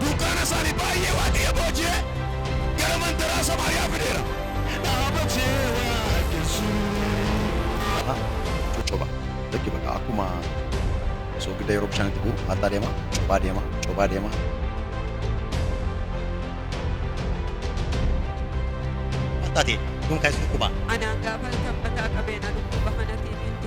Dunkaana isaanii baay'ee Waaqayyo booji'ee gara mandaraa Samaariyaa fideera. dhaabatee waaqessu. Aha, coccoba. Lakki bakka akkuma soogidda yeroo bishaan itti bu'u haattaa deema, cophaa deema, cophaa deema. Haattaa ta'e, dunkaansi dhukkubaa. Anaan gaafan sanbataa qabee na dhukkuba.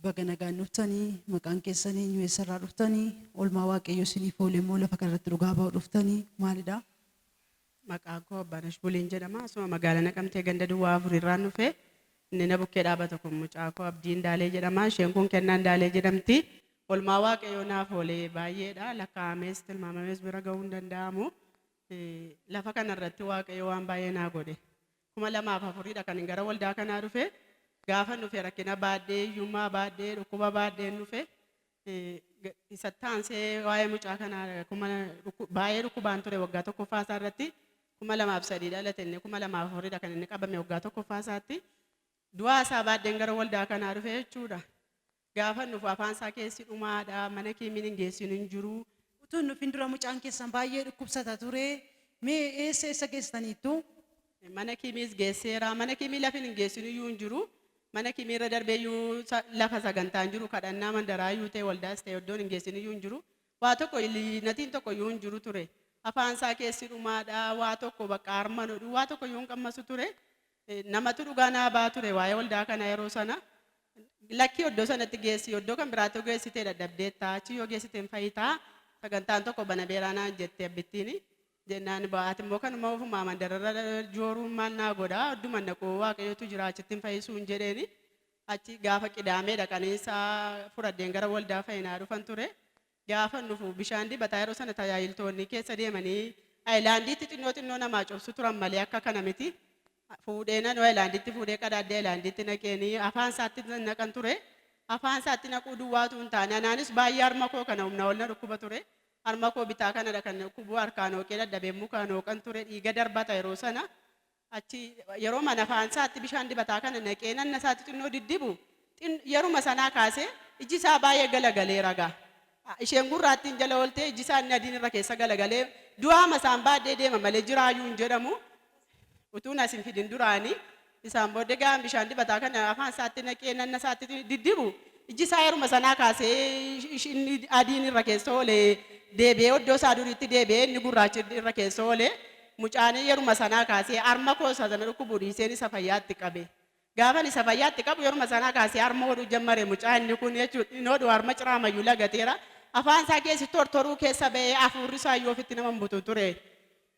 Baga nagaan dhuftani maqaan keessan eenyu eessarraa dhuftani olmaa waaqayyo isiniif oole immoo lafa kanarratti dhugaa ba'u dhuftani maalidha? Maqaan koo Abbaanash Buliin jedhama asuma magaala Naqamtee ganda duwwaa afur irraan dhufe inni na bukkee dhaabata kun mucaa koo Abdii Indaalee jedhama isheen kun Kennaa Indaalee jedhamti olmaa waaqayyoo naaf oole baay'eedha lakkaa'amees tilmaamamees bira ga'uu hin danda'amu lafa kanarratti waaqayyo waan baay'ee naa godhe 2004 dha kanin gara waldaa kanaa dhufe. Gaafan dhufe rakkina baadhee, hiyyummaa baadhee, dhukkuba baadheen dhufe. Isatti aansee waa'ee mucaa kanaa baay'ee dhukkubaan ture waggaa tokkoffaa isaa irratti 2003 dhalate inni 2004 dha kan inni qabame waggaa tokkoffaa isaatti. Du'aa isaa baadheen gara waldaa kanaa dhufe jechuudha. Gaafan dhufu afaan isaa keessi dhumaadha mana kimin hin geessinu hin jiru. Utuu hin dhufin dura mucaan keessan baay'ee dhukkubsata ture. Mee eessa eessa geessitaniittu? Mana kimiis geesseera. Mana kimii lafin hin geessinu iyyuu hin jiru. Mana kimii irra darbee iyyuu sa- lafa sagantaa hin jiru. Kadhannaa mandaraa iyyuu ta'e waldaas ta'e iddoon hin geessinu iyyuu hin jiru. Waa tokko ili- natiin tokko iyyuu hin jiru ture. Afaan isaa keessi dhumaadha. Waa tokko bakka harma nodhu waa tokko iyyuu hin qammasu ture. Namatu dhugaa naa ba'aa ture waa'ee waldaa kanaa yeroo sana. Lakkii oddoo sanatti geessi oddoo kan biraatti yoo geessitee dadhabdeetta achi yoo geessitee hin fayyitaa sagantaan tokko banameeraa naan jette abbittiin jennaan ba'aati immoo kanuma ofumaa mandararra jooruun maal naa godha odduma naquu waaqayyootu jira achitti hin fayyisuun jedheeni achi gaafa qidaamee dhaqanii isaa fudhadheen gara waldaa fayyinaa dhufan ture Gaafan dhufu bishaan dibataa yeroo sana tajaajiltoonni keessa deemanii ayilaandiitti xinnoo xinnoo namaa cobsu turan malee akka kana miti. Fuudhee nanoo ayilaandiitti fuudhee qadaaddi ayilaandiitti naqeenii afaan isaatti naqan ture. Afaan isaatti naquu duwwaatu hin taane anaanis baay'ee harma koo kana humna ol na dhukkuba ture. Harma koo bitaa kanadha kan dhukkubu harkaan hooqee dadhabee mukaan hooqan ture dhiiga darbata yeroo sana. Achi yeroo mana afaan isaatti bishaan dibataa kana naqee nanna isaatti xinnoo diddibu xin yeruma sanaa kaasee iji isaa baay'ee galagaleera gaa. A, Isheen gurraattiin jala ooltee iji isaa inni adiin irra keessa galagalee du'aama isaan baaddee deema malee jiraayuu hin jedhamu. Utuun as hin fidin duraanii isaan booddee gaa bishaan dibataa kana afaan isaatti naqee nanna isaatti diddibu iji isaa yeruma sanaa kaasee ish- ish- inni adiin irra keessa oolee deebi'ee oddoo isaa duriitti deebi'ee inni gurraachi irra keessa oolee Mucaani yeruma sanaa kaasee arma koo isa na dhukkubuu dhiiseen isa fayyaatti qabe. Gaafan isa fayyaatti qabu yeruma sanaa kaasee arma hodhuu jammare mucaa inni kun jechuun hin hodhu arma ciraamayyuu lagateera. Afaan isaa keessi tortoruu keessa ba'ee afuurri isaa iyyuu ofitti nama hin butu ture.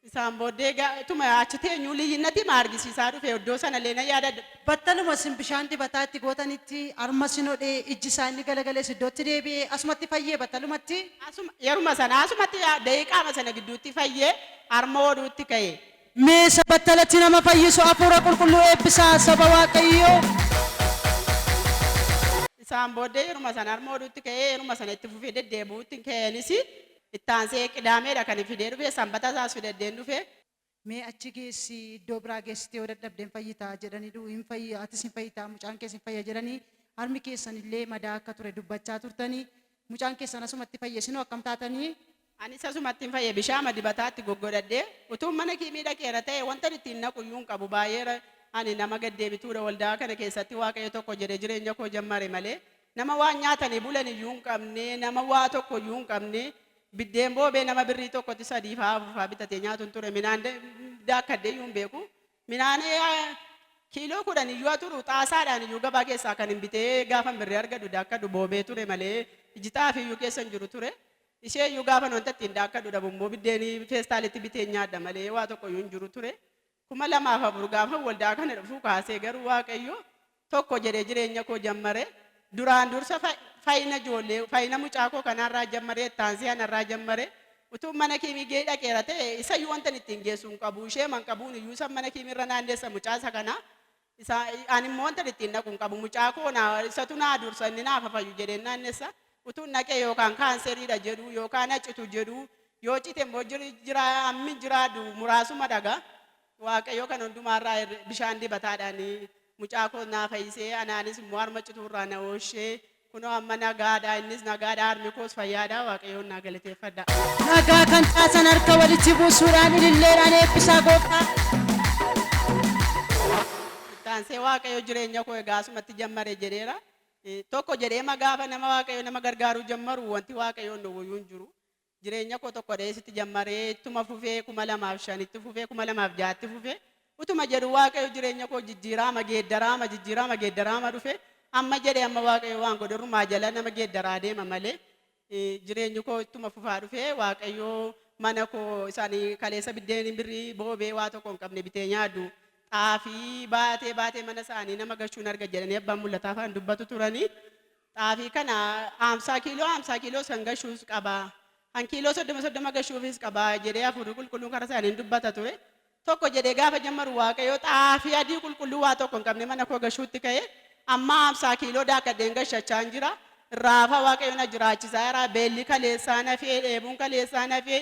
Isaan booddee ga- tuma achi teenyuu liyyinnatii ma argisiisaa dhufe iddoo sana illee na yaadadha. Battaluma isin bishaan dibataa itti gootanitti arma isin hodhe ijji isaa inni galagales iddootti deebi'e asumatti fayyee battalumatti. Asuma yeruma sana asumatti daqiiqaama sana gidduutti fayyee Harma oduutti ka'e. Mee isa battalatti nama fayyisu Hafuura Qulqulluu eebbisaa, saba Waaqayyoo! Isaan booddee yeruma sana harma oduutti ka'ee yeruma sana itti fufee deddeebi'uutti hin ka'eenis itti aansee Qidaameedha kan hin fidee dhufe, Sanbata isaas fidaddee hin dhufe. Mee achi geessi, iddoo biraa geessitee yoo dadhabde hin fayyita jedhanii du'u, hin fayya, atis hin fayyita, mucaan kees hin fayya jedhanii harmi keessan illee madaa akka ture dubbachaa turtanii Mucaan keessan asumatti fayye isinoo akkam taatanii? Anis asumattin fayye bishaama dibataatti goggodhadhe utuun mana kiimii dhaqeera ta'e wantan ittiin naqu iyyuu hin qabu baay'eera ani nama gad deebituudha waldaa kana keessatti waaqayyo tokko jedhe jireenya koo jammare malee nama waan nyaatanii bulan iyyuu hin qabne nama waa tokko iyyuu hin qabne biddeen boobee nama birrii tokkotti sadiifaa afurfaa bitatee nyaatun ture minaan daakkadde iyyuu hin beeku Midhaan kiiloo kudhan iyyuu haa turu, xaasaadhaan iyyuu gabaa keessaa kanin bitee gaafan birrii argadhu daakkadhu boobee ture malee, iji xaafii iyyuu keessa hin jiru ture. Ishee iyyuu gaafan wanta ittiin daakkadhu dhabu immoo biddeen feestaalitti biteen nyaadha malee waa tokko iyyuu hin jiru ture. 2004 gaafan waldaa kana dhufuu kaasee garuu Waaqayyo tokko jedhe jireenya koo jammare duraan dursa fayina ijoollee fayina mucaa koo kanaa irraa jammare itti aansee ana irraa jammare utuun mana kiimigee dhaqeera ta'e isa iyyuu wantan ittiin geessu hin qabu ishee man qabuun iyyuu isa mana kiimii irra naanneessa mucaa isa kana isa ani immoo wantan ittiin dhaqu hin qabu mucaa koo naa isatu naa dursa inni naa fafayyu jedheen naannessa utuun dhaqee yookaan kaanseriidha jedhu yookaan hacitu jedhu yoo cite immoo jira ammi jiraadhu muraasuma dhagaa Waaqayyo kan hundumaa irraa hir'e bishaan dibataadhaan mucaa koo naa fayyisee anaanis immoo harma cituu irraa na oolchee kunoo amma nagaadha innis nagaadha harmi koos fayyaadha waaqayyoon naa galateeffadha. Nagaa kan caasan harka walitti buusuudhaan ililleedhaan eebbisaa gooftaa. Taansee waaqayyo jireenya koo egaa asumatti jammare jedheera. Eh, Tokko jedheema gaafa nama waaqayyo nama gargaaruu jammaru wanti waaqayyoon dhowwayyuu hin jiru. Jireenya koo tokko dheesitti jammaree ittuma fufee kuma lamaaf shan itti fufee kuma lamaaf ja'a itti fufee utuma jedhu waaqayyo jireenya koo jijjiiraama geeddaraama jijjiiraama geeddaraama dhufe amma jedhe amma waaqayyo waan godhe irrumaa jala nama geeddaraa deema malee eh, jireenyi koo ittuma fufaa dhufe waaqayyo mana koo isaanii kaleessa biddeen birrii boobee waa tokko hin qabne bitee nyaadhu xaafii baatee baatee mana isaanii nama gashuun arga jedhanii abbaan mul'ataa afaan dubbatu turanii Xaafii kana haamsaa kiiloo haamsaa kiiloos kan gashuus qaba. Kan kiiloo soddoma soddoma gashuufis qaba jedhee hafuurri qulqulluun karaa isaaniin dubbata ture. Tokko jedhee gaafa jammaru waaqayyo xaafii adii qulqulluu waa tokko hin qabne mana koo gashuutti ka'e amma haamsaa kiiloo daakkadheen gashachaan jira. Irraa hafaa waaqayyo na jiraachisaa jira. Beelli kaleessaa nafee dheebuun kaleessaa nafee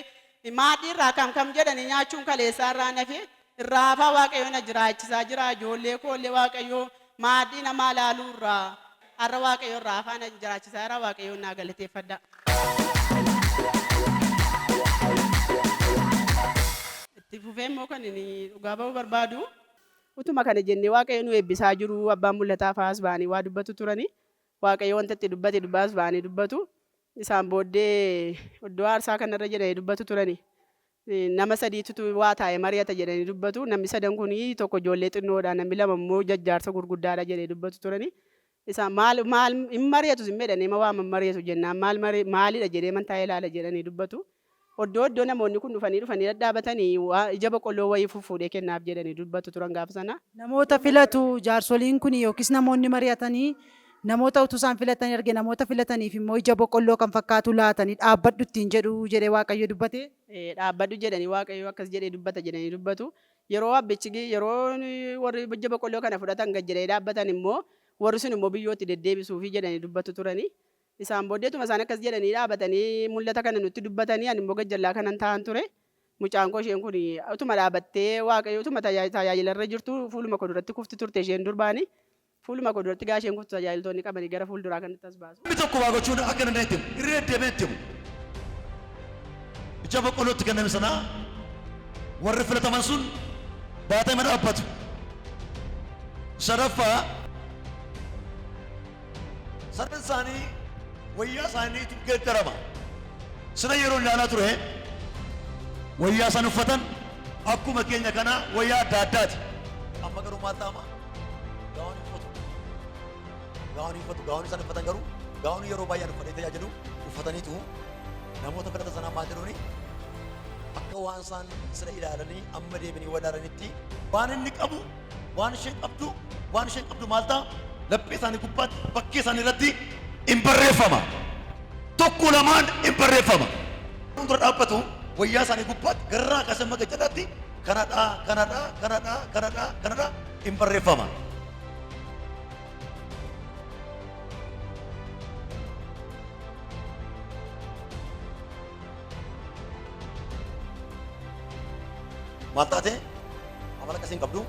maaddii irraa kam kam jedhanii nyaachuun kaleessaa irraa nafee Irraa hafaa waaqayyoo na jiraachisaa jiraa ijoollee koo illee waaqayyoo maaddii namaa ilaaluu irraa har'a waaqayyoo irraa hafaa na jiraachisaa jiraa waaqayyoon naa galateeffadhaa. Itti fufee immoo kan ani dhugaa ba'uu barbaadu utuma kana jennee waaqayyo nu eebbisaa jiruu abbaan mul'ataa fa'aas ba'anii waa dubbatu turani waaqayyo wanta itti dubbate dubbaas ba'anii dubbatu isaan booddee iddoo aarsaa kanarra jedhanii dubbatu turani Nama sadiitu waa taa'ee mari'ata jedhanii dubbatu. Namni sadan kun tokko ijoollee xinnoodha, namni lama immoo jajjaarsa gurguddaadha jedhee dubbatu turani. Isaan maal maal hin mari'atu sin jedhanii ma waaman mari'atu jennaan maal mari maalidha jedhee man taa'ee ilaala jedhanii dubbatu. Oddoo oddoo namoonni kun dhufanii dhufanii dhadhaabatanii waa ija boqqolloo wayii fuffuudhee kennaaf jedhanii dubbatu turan gaafa sana. Namoota filatu jaarsoliin kun yookiis namoonni mari'atanii Namoota utuu isaan filatanii arge, namoota filataniif immoo ija boqqolloo kan fakkaatu laatanii, Dhaabbadhu ittiin jedhu jedhee Waaqayyo dubbate. Dhaabbadhu jedhanii Waaqayyo akkas jedhee dubbata jedhanii dubbatu. Yeroo abbichi, yeroo warri ija boqqolloo kana fudhatan gad jedhanii dhaabbatan immoo warri sun immoo biyyootti deddeebisuufi jedhanii dubbatu turani. Isaan booddee utuma isaan akkas jedhanii dhaabatanii mul'ata kana nutti dubbatanii ani immoo gajjallaa kanan taa'an ture. Mucaan koo isheen kun utuma dhaabattee Waaqayyo utuma tajaajilarra jirtu fuuluma koo duratti kufti turte isheen durbaani. Fuuluma koo duratti gaasheen guutuu tajaajiltoonni qabanii gara fuulduraa kanatti as baasu. Namni tokko waa gochuu akka hin dandeenye itti himu. Irra deddeebi'ee itti himu. Ija boqqolloo itti kenname sanaa warri filataman sun baatee ma dhaabbatu. Sadaffaa sareen isaanii wayyaa isaaniitu geeddarama. Sila yeroo ilaalaa ture wayyaa isaan uffatan akkuma keenya kanaa wayyaa adda addaati. Amma garuu maal ta'ama? Gaawwan uffatu. Gaawwan uffatu. Gaawwan isaan uffatan garuu gaawwan yeroo baay'een uffatee tajaajilu uffataniitu namoota kadhata sanaa maal jedhuuni akka waan isaan sira ilaalanii amma deebi'anii walaalanitti waan inni qabu waan isheen qabdu waan isheen qabdu maal ta'a laphee isaanii gubbaatti bakkee isaanii irratti hin barreeffama tokko lamaan hin barreeffama. Fuuldura dhaabbatu wayyaa isaanii gubbaatti garraa kaasee maga jedhaatti kanadha kanadha kanadha kanadha kanadha in barreeffama. Maal taate? Amala akkasiin qabdu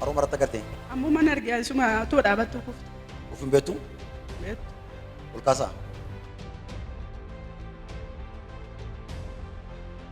haruma irratti agartee. Ammoo mana argaa isuma otoo dhaabattuu kufte. Of hin beektu Beektu. ol kaasaa.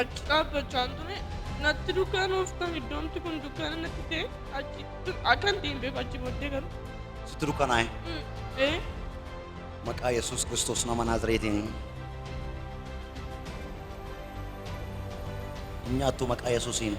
Achi dhaabbachaan ture natti dukkaanooftan iddoomti kun dukkaana natti ta'e achi akkan deembeef achi booddee garuu. Sitti dukkanaa'e. Ee Maqaa Yesuus Kiristoos nama Naazireetiin. Hin nyaattu maqaa Yesuusiin.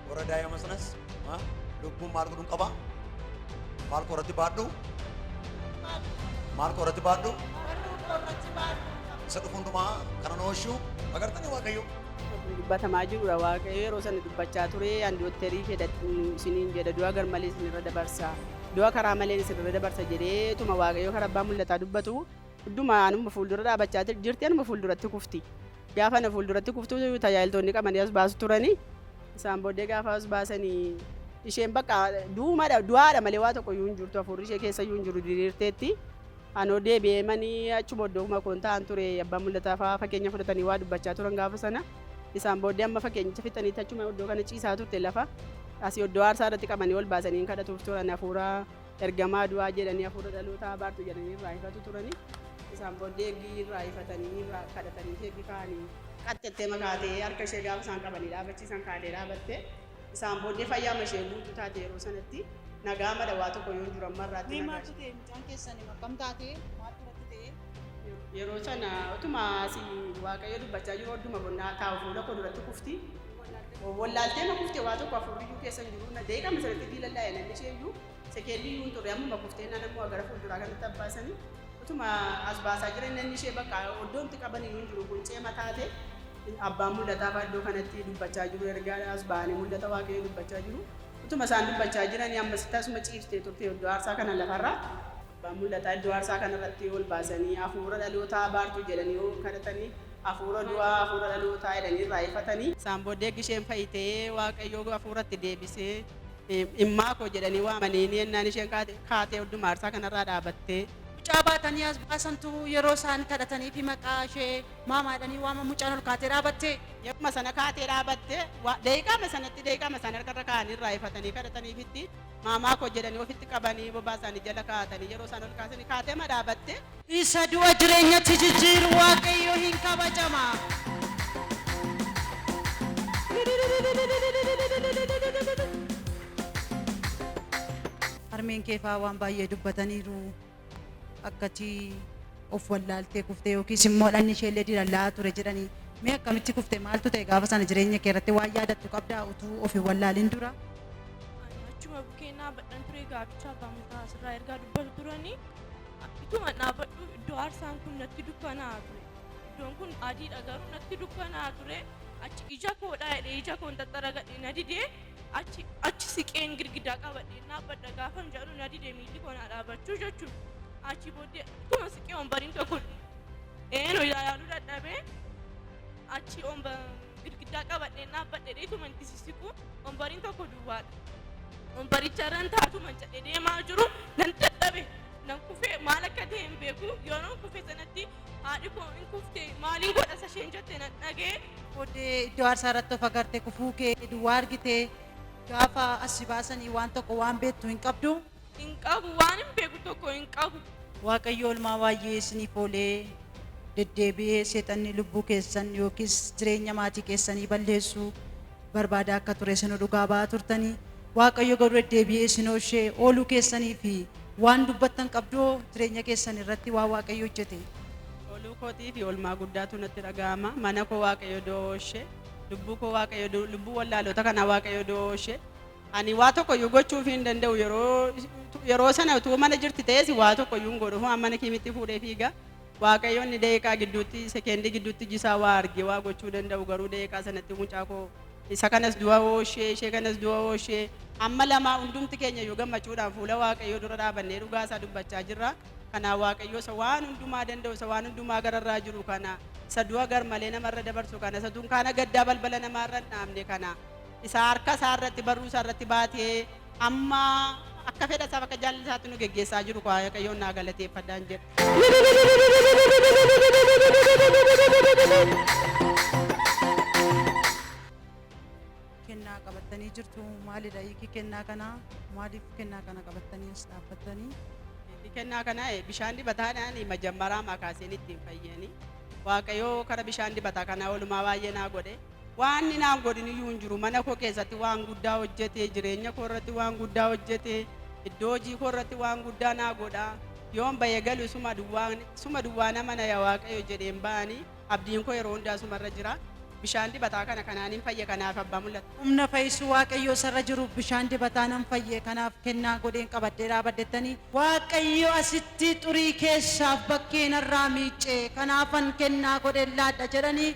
Warra daa'ima sanas ha? lubbuun maal godhuun qaba? Maal koo irratti baadhu? Maal koo irratti baadhu? Isa dhufu hundumaa kana nu oolchu agartanii Waaqayyo. dubbatamaa jirudha waaqayyo yeroo sana dubbachaa ture an dooktarii fedha isiniin jedha du'a gar malee isinirra dabarsa du'a karaa malee isinirra dabarsa jedhee tuma waaqayyo karaa abbaa mul'ataa dubbatu hunduma anuma fuuldura dhaabachaa jirti anuma fuulduratti kufti Gaafa na fuulduratti kuftu tajaajiltoonni qabanii as baasu turani. Isaan booddee gaafa as baasanii isheen bakka duumadha du'aadha malee waa tokko iyyuu hin jirtu hafuurri ishee keessa iyyuu hin jiru diriirteetti. Anoo deebi'ee manii achuma iddookuma koon ta'an ture abbaa mul'ataa fa'aa fakkeenya fudhatanii waa dubbachaa turan gaafa sana. Isaan booddee amma fakkeenyicha fixaniitti achuma iddoo kana ciisaa turte lafa asii iddoo aarsaa irratti qabanii ol baasanii hin kadhatuuf turan hafuura Ergamaa du'aa jedhanii hafuura dhalootaa abaartu jedhanii irraa ifatu turani. Isaan booddee eegii irraa ifatanii irraa kadhatanii eegii ka'anii. Qaxxattee makaatee harka ishee gaafa isaan qabanii dhaabachiisan kaatee dhaabatte. Isaan booddee fayyaama ishee guutuu taate yeroo sanatti nagaa madha waa tokko yoo jiru amma irraatti Mee nagaa maaltu ta'e mucaan keessan akkam taate maaltu irratti ta'e? Yeroo sana utuma asii waaqayyo dubbachaa jiru odduma bonnaa taa'u fuula koo duratti kufti. Wallaaltee ma kufte waa tokko afurriyyuu keessa hin jiru. Daqiiqaa masaratti diilallaa yalanni ishee iyyuu sekeendii iyyuu hin turre ammuma kuftee innaan ammoo agara fuulduraa kanatti abbaasanii utuma as baasaa jiran innanni ishee bakka oddoo itti qaban iyyuu hin jiru quncee mataate abbaan mul'ataa fa'aa iddoo kanatti dubbachaa jiru ergaa as ba'anii mul'ata waaqayyoo dubbachaa jiru utuma isaan dubbachaa jiranii ammasitti asuma ciiftee turte iddoo aarsaa kana lafarraa abbaan mul'ataa iddoo aarsaa kanarratti ol baasanii hafuura dhalootaa abaartuu jedhanii kadhatanii Afuura du'aa afuura dhalootaa jedhanii irraa ifatani. Isaan booddee eggi isheen fayitee Waaqayyoo afuura itti deebisee immaa koo jedhanii waamaniini ennaan isheen kaate kaatee odduma aarsaa kanarraa dhaabattee. Mucaa baatanii as baasantu yeroo isaan kadhataniifi maqaa ishee maamaa jedhanii waaman mucaan ol kaatee dhaabatte. Yeruma sana kaatee dhaabatte. Daqiiqaama sanatti daqiiqaama isaan harkarra kaa'anii irraa ifatanii kadhataniifitti. Maamaa koo jedhanii ofitti qabanii bobaa isaanii jala kaa'atanii yeroo isaan ol kaasanii kaateema dhaabatte. Isa du'a jireenyatti jijjiiru Waaqayyo hin kabajama. Harmeen keefaa waan baay'ee dubbataniiru. akkati of wallaaltee kuftee yookiis immoo dhanni ishee illee dilallaa ture jedhanii mee akkamitti kufte maaltu ta'e gaafa sana jireenya kee irratti waan yaadattu qabdaa utuu of hin wallaalin dura Ani achuma bukeennaa badhan ture gaabichaa baamutaa asirraa ergaa dubbatu turanii akkituma dhaabadhu iddoo aarsaan kun natti dukkanaa ture iddoon kun adiidha garuu natti dukkanaa ture achi ija koodhaa jedhee ija koon xaxxaragadhe na didee Achi achi siqeen girgidaa qabadheen dhaabbadha gaafan jedhu na dide miilli koo naa dhaabachuu jechuun achi booddee akkuma siqee ombariin tokko eenu ilaaluu dadhabee achi omba girgidaa qabadheen dhaabbadhe dheetuma itti sissiqu ombariin tokko duwwaadha. Ombaricha irran taatuma jedhe deemaa jiru nan dadhabe nan kufee maal akka ta'e hin beeku yeroo kufee sanatti Haadhi koo in kufte maaliin godha isa isheen jette nan dhagee. Booddee iddoo aarsaa irratti of agarte kufuu kee duwwaa argite gaafa as si baasanii waan tokko waan beektu hin qabdu. Hin qabu waan hin beeku tokko hin qabu. Waaqayyo olmaa waayyee isiniif oolee deddeebi'ee seexanni lubbuu keessan yookiis jireenya maatii keessanii balleessu barbaadaa akka ture isinuu dhugaa ba'aa turtanii. Waaqayyo garuu deddeebi'ee isin oolchee ooluu keessanii fi waan dubbattan qabdoo jireenya keessan irratti waan Waaqayyo hojjete. Oluu kootii fi olmaa guddaatu natti dhaga'ama. Mana koo Waaqayyo du'a oolche. Lubbuu koo Waaqayyo du- lubbuu wallaalota kanaa Waaqayyo du'a oolche. Ani waa tokko iyyuu gochuuf hin danda'u yeroo yeroo sana utuu mana jirti ta'es waa tokko iyyuu hin godhu. Amma mana kiimitti fuudhee fiiga. Waaqayyo inni daqiiqaa gidduutti, sekeendii gidduutti iji isaa waa arge, waa gochuu danda'u garuu daqiiqaa sanatti mucaa koo isa kanas du'a oolshee, ishee kanas du'a oolshee, amma lamaa hundumti keenya iyyuu gammachuudhaan fuula Waaqayyoo dura dhaabannee dhugaa isaa dubbachaa jirra. Kanaa Waaqayyo isa waan hundumaa danda'u, isa waan hundumaa gararraa jiru kana, isa du'a garmalee namarra dabarsu kana, isa dunkaana gaddaa balbala namaa irra hin dhaabne kana, isa harka isaa irratti, barruu isaa irratti baatee, Amma akka fedha isaaf akka jaalala isaatti nu geggeessaa jiru koo Waaqayyoon naa galateeffadhaan jedha. kennaa qabattanii jirtu maalidha hiiki kennaa kanaa maaliif kennaa kana qabattanii as dhaabbattanii Hiiki kennaa kana eh, bishaan dibataadhaan majammaraa makaaseen ittiin fayyani. Waaqayyoo kara bishaan dibataa kanaa oolmaa baay'ee naa godhe. Waan inni naan godhin iyyuu hin jiru. Mana koo keessatti waan guddaa hojjete, jireenya koo irratti waan guddaa hojjete, iddoo hojii koo irratti waan guddaa naa godha. Yoon ba'e galu isuma duwwaa, isuma duwwaa nama na yaa Waaqayyo jedheen ba'ani. Abdiin koo yeroo hundaa isuma irra jira. Bishaan dibataa kana kanaanin fayye kanaaf abbaa mul'ata. Humna fayyisuu Waaqayyoo isa irra jiruuf bishaan dibataa nan fayye kanaaf kennaa godheen qabadhee dhaabadhettani. Waaqayyo asitti xurii keessaaf bakkee narraa miicce kanaafan kennaa godheen laadha jedhani.